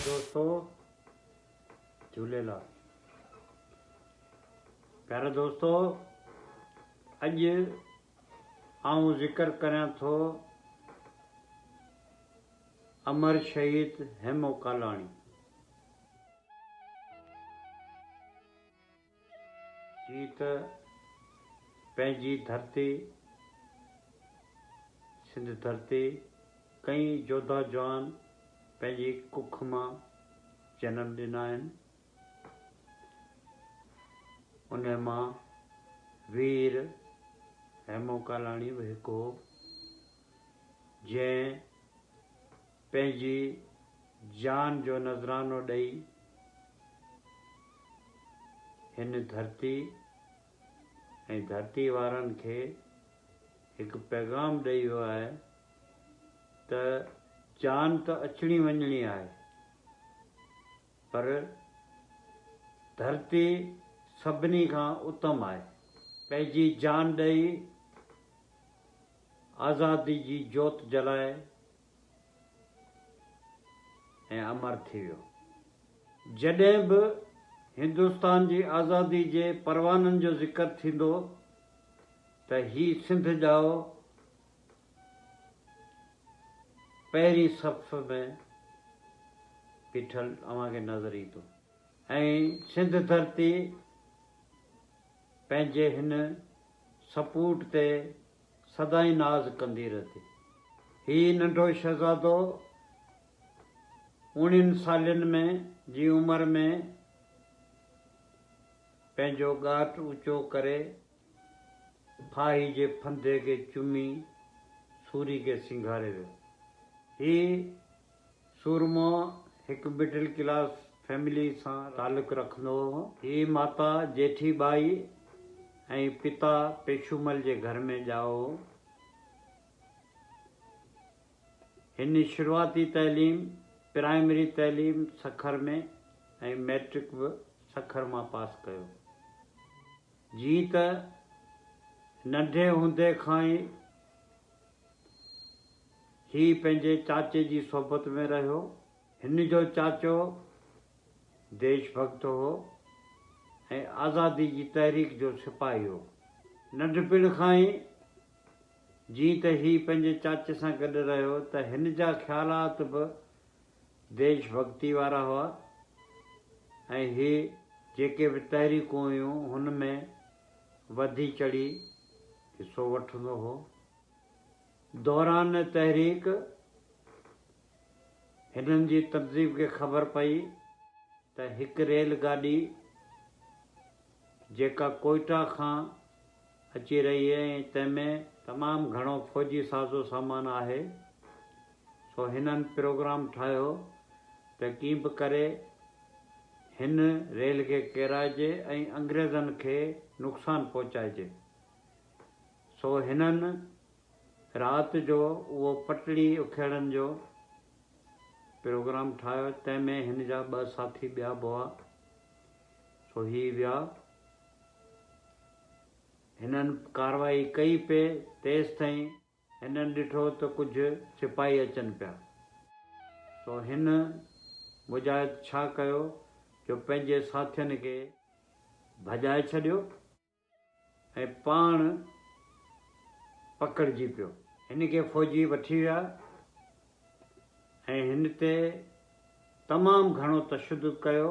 دوستو جھوليلال پيارا دوستو اڄ آئون ذڪر ڪريان ٿو امر شهيد هيمو ڪالاڻي هي ته پنهنجي ڌرتي، سنڌ ڌرتي، ڪئين جوڌا جوان پنهنجي ڪک مان جنم ڏنا آهن. انهن مان وير هيمو ڪالاڻي به هڪ هو، جنهن پنهنجي جان جو نذرانو ڏئي هن ڌرتي ۽ ڌرتي وارن کي هڪ پيغام ڏئي ويو آهي ته جان ته اچڻي وڃڻي آهي پر ڌرتي سڀني کان اتم آهي. پنهنجي جان ڏئي آزادي جي جوت جلائي ۽ امر ٿي ويو. جڏهن به هندستان جي آزادي جي پروانن جو ذڪر ٿيندو ته هي سنڌ ڄائو پهرين صف ۾ بيٺل اوهان کي نظر ايندو ۽ سنڌ ڌرتي پنهنجي هن سپوٽ تي سدائين ناز ڪندي رهندي. هي ننڍو شهزادو اوڻين سالين ۾ جي عمر ۾ پنهنجو ڳاٽ اوچو ڪري ڦاهي جي ڦندي کي چمي سوري کي سينگاري ويو. هي. سورمو هڪ مڊل ڪلاس فيملي سان تعلق رکندو هو. هي ماتا جيٺي ٻائي ۽ پتا پيشومل جي گهر ۾ ڄائو هو. هن شروعاتي تعليم پرائمري تعليم سکر ۾ ۽ مئٽرڪ به سکر مان پاس ڪيو. جيئن ته ننڍي هوندي کان ئي هي پنهنجي چاچي جي صحبت ۾ رهيو. هن جو چاچو ديش ڀڳت هو ۽ آزادي جي تحريڪ جو سپاهي هو. ننڍپڻ کان ئي جيئن ته هي پنهنجي چاچي سان گڏ رهيو ته هن جا خيالات به ديش ڀڳتي وارا هئا ۽ هي جيڪي به تحريڪون هيون هن ۾ وڌي چڙهي حصو وٺندو هو. دوران تحريڪ هنن جي تنظيم کي خبر پئي ته هڪ ريل گاڏي جيڪا ڪوئيٽا کان اچي رهي هئي ۽ تنهن ۾ تمام گهڻو فوجي سازو سامان آهي سو هنن پروگرام ٺاهيو ته ڪيئن به ڪري هن ريل کي ڪيرائجي ۽ انگريزن کي نقصان پهچائجي. سو هنن رات جو اهو پٽڙي اکيڙن جو پروگرام ٺاهيو، تنهن ۾ هن جا ٻه ساٿي ٻيا به هئا، سو هي ويا. هنن ڪارروائي ڪئي پئي، تيستائين هنن ڏٺو ته ڪجهه سپاهي اچن پيا، سو هن مجاهد ڇا ڪيو جو پنهنجي ساٿين کي ڀڄائي ڇڏيو. ۽ پاڻ پڪڙجي پيو. هن کي فوجي وٺي ويا ۽ هن تي تمام گهڻو تشدد ڪيو.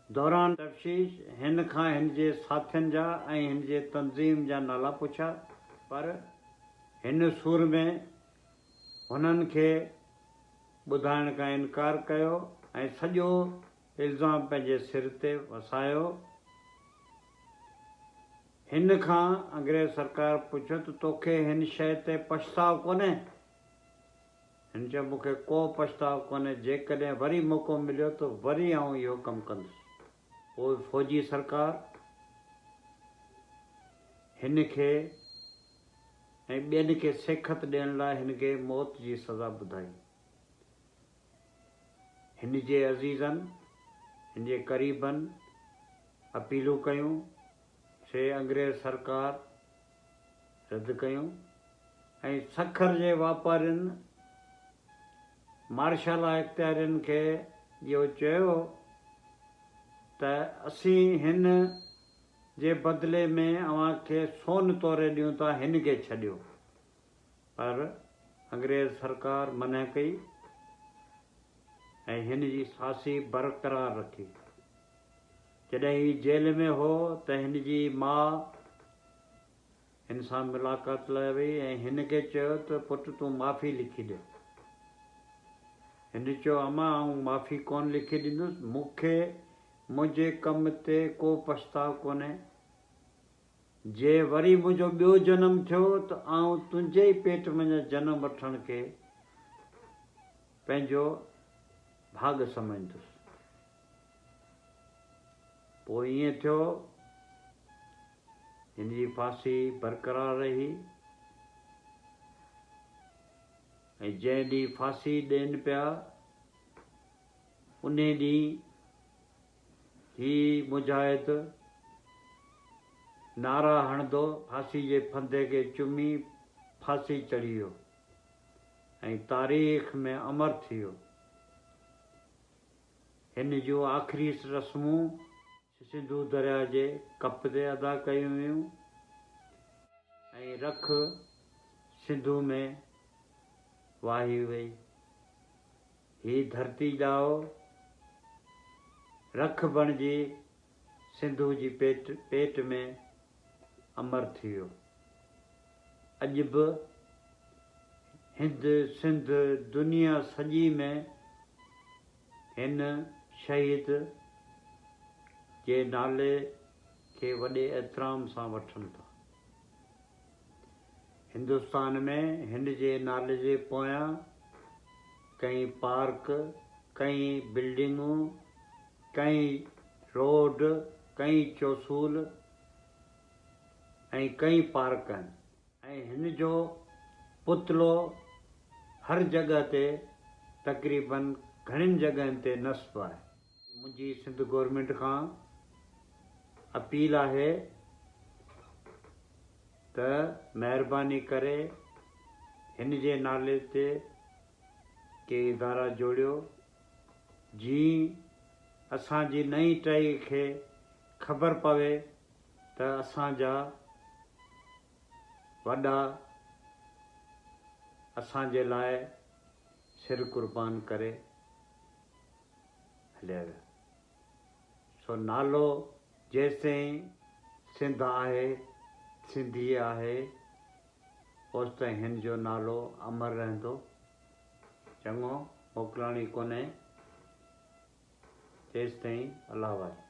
دوران تفتيش هن کان هن جي ساٿين جا ۽ هن جي تنظيم جا نالا پڇيا پر هن سور ۾ هنن کي ٻڌائڻ کان انڪار ڪيو ۽ سڄو الزام پنهنجي سر تي وسايو. هن کان انگريز سرڪار پڇيو ته توکي هن شيء تي پڇتاء ڪونهي؟ هن چيو مون کي ڪو پڇتاء ڪونهي، جيڪڏهن وري موقعو مليو ته وري آئون اهو ڪم ڪندس. پوء فوجي سرڪار هن کي ۽ ٻين کي سيکت ڏيڻ لاء هن کي موت جي سزا ٻڌائي. هن جي عزيزن، هن جي قريبن اپيلون ڪيون، سي انگريز سرڪار رد ڪيون ۽ سکر جي واپارين مارشالا اختيارين کي اهو چيو ته اسين هن جي بدلي ۾ اوهان کي سون توري ڏيون ٿا، هن کي ڇڏيو. پر انگريز سرڪار منع ڪئي ۽ هن جي ڦاسي برقرار رکي. جڏهن هي جيل ۾ هو ته هن جي ماء هن سان ملاقات لاء وئي ۽ هن کي چيو ته پٽ تون معافي لکي ڏي. هن چيو امان آئون معافي ڪونه لکي ڏيندس، مون کي منهنجي ڪم تي ڪو پڇتاء ڪونهي. جي وري منهنجو ٻيو جنم ٿيو ته آئون تنهنجي ئي پيٽ منجهان جنم وٺڻ کي پنهنجو ڀاڳ سمجهندس. پوء ائين ٿيو هن جي ڦاسي برقرار رهي ۽ جنهن ڏينهن ڦاسي ڏين پيا انهي ڏينهن هي مجاهد نعرا هڻندو ڦاسي جي ڦندي کي چمي ڦاسي چڙهي ويو ۽ تاريخ ۾ امر ٿي ويو. هن جون آخري رسمون سنڌو درياهه جي ڪپ تي ادا ڪيون ويون ۽ رک سنڌو ۾ واهي وئي. هي ڌرتي ڄائو رک بڻجي سنڌو جي پيٽ ۾ امر ٿي ويو. اڄ به هند، سنڌ، دنيا سڄي ۾ هن شهيد جي نالي کي وڏي احترام سان وٺن ٿا. هندستان ۾ هن جي نالي جي پويان ڪئين پارڪ، ڪئين بلڊنگون، ڪئين روڊ، ڪئين چوسول ۽ ڪئين پارڪ آهن. ۽ هن جو پتلو هر جڳهه تي تقريبن گهڻين جڳهين تي نصب آهي. منهنجي سنڌ گورنمينٽ کان اپيل آهي ته مهرباني ڪري هن جي نالي تي ڪي ادارا جوڙيو جيئن اسان جي نئين ٽهي کي خبر پوي ته اسان جا وڏا اسان جي لاء سر قربان ڪري هليا ويا. سو نالو جيستائين سنڌ آهي، سنڌي آهي، اوستائين هن جو نالو امر رهندو. چڱو، موڪلاڻي ڪونهي، تيستائين الله حوالي.